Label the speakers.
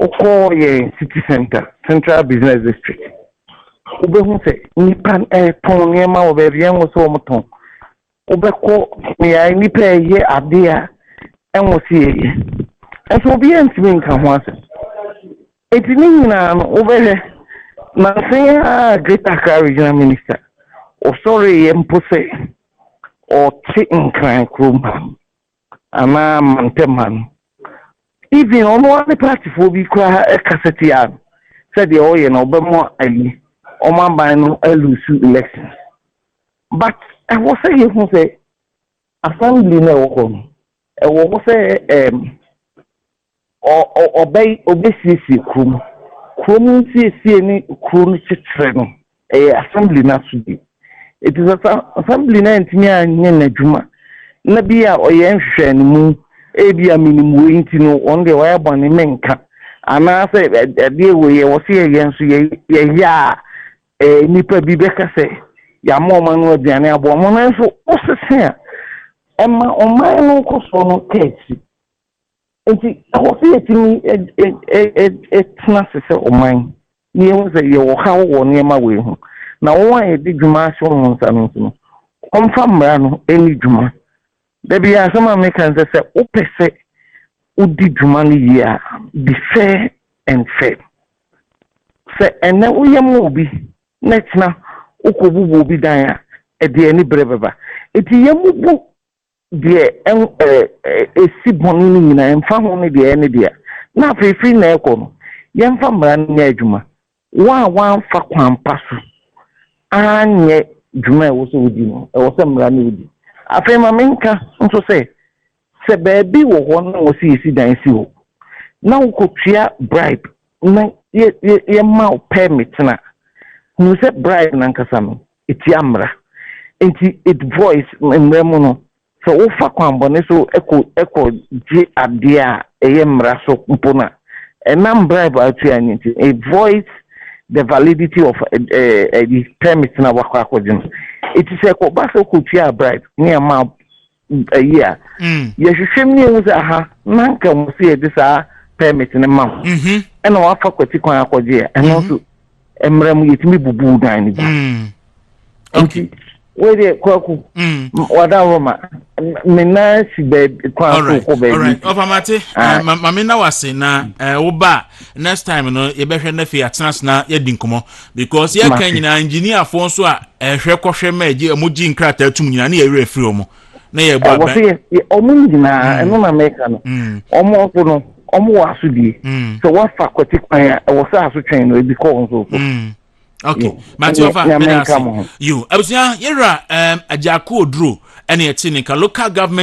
Speaker 1: Wokɔɔ yɛn City Centre, Central Business District, wobɛhu sɛ nnipa retɔn nneɛma wɔ baabi a ɛnwo sɛ wɔtɔn. Wobɛkɔ mmeae nnipa reyɛ adeɛ a ɛnwo sɛ yɛyɛ. Nso obiara ntumi nka ho asɛm. Enti ne nyinaa no, wobɛhwɛ nanse a Greater Accra Regional Minister ɔsɔreeɛ mpo sɛ ɔte Nkran kurom ha. anaa mantam ha no, even ɔno ara ne partyfoɔ bi koraa kasa tia no sɛ deɛ ɔyɛ no ɔbɛma ayi wɔn aban no alusu elections. But ɛwɔ sɛ yɛhu sɛ assembly no ɛwɔ hɔ no, ɛwɔ hɔ sɛ um, Ɔbɛy ɔbɛsiesie kuro mu. Kuro mu nsiesie ne kuro no kyekyerɛ no, ɛyɛ assembly no asodie. Nti sɛ sa assembly no antumi anyɛ n'adwuma na bi a ɔyɛ nhwehwɛanimu, ebi a menim wei nti no, wɔn deɛ wɔayɛ bɔne, menka. Anaasɛ adeɛ wei yɛ wɔ se yɛyɛ nso yɛ yɛyɛ a, ɛɛ nnipa bi bɛka sɛ yɛama wɔn ano aduane aboa wɔn. Nanso wosese a, ɛma ɔman no nkɔsoɔ no kɔ akyiri. nti ɛwɔ sɛ yɛtumi tena ase sɛ ɔman na yɛhu sɛ yɛwɔ haw wɔ nneɛma wei ho na wɔn a yɛde dwuma ahyɛ wɔn nsa no nso no wɔmfa mmara no ɛni dwuma da bi asɛm a meka sɛ sɛ wopɛ sɛ wodi dwuma no yie a be fair and fair sɛ ɛnɛ woyɛ ma obi na kyena wokɔbubu obi dan a ɛde ani berɛ bɛba ɛti yɛmubu deɛ ɛn ɛɛ ɛsi bɔne no nyinaa ɛmfa ho ne deɛ ɛyɛ ne dea, na afei firi nnɛ rekɔ no, yɛmfa mmara no nyɛ adwuma, wɔn a wɔamfa kwan pa so anyɛ dwuma a ɛwɔ sɛ wɔdi no, ɛwɔ sɛ mmara no wɔdi. Afei ma menka nso sɛ, sɛ baabi wɔ hɔ na wɔsi yɛsi dan si hɔ, na wokɔtua bribe na yɛ yɛ yɛma wo permit no a, hunu sɛ bribe no ankasa no, etia mmara. Enti it voice mmara mu no, sɛ wofa kwammɔne so kɔ kɔ gye adeɛ a ɛyɛ mmara so mpo no a, ɛnam bribe a wotua no nti, it voids the validity of ɛyi permit no a woakɔ akɔgye no. Enti sɛ ɛkɔba sɛ wokɔtuaa bribe ne ɛmaa ayi a mm. yɛhwehwɛ mu yɛhu sɛ aha na nka mu sɛ yɛde saa permit no ma ho mm-hmm. ɛna wafa kwati kwan akɔgye a ɛno nso mm-hmm. mmerɛ mu yɛtumi bubu dan no gya mm. nti wei deɛ kwaku mm. wada hɔ ma me nan si baabi kwan so kɔ baabi ɔpamate
Speaker 2: eh, mame na wase na eh, woba next time no yɛbɛhwɛ no afei atena sena yɛdi nkɔmmɔ Because yɛ kan nyinaa engineer fo nso a ɛhwɛ kɔhwɛ mɛ gye ɔmo gye nkrataa tum nyinaa ne yɛ werɛ firi ɔmo na yɛ bɔ abɛn. Wɔsɛ yɛ ɔmo nyinaa mm. ɛno na mɛka no mm. ɔmo nso no ɔmo wɔ asodie mm. sɛ wafa kwati kwan a ɛwɔ sɛ asotwɛn no ebi kɔ wɔn nso so. Okay, mate ɔfa mɛda ase yo abusua yɛwura ɛɛm agya ko oduro ɛna ɛte ne nka local government.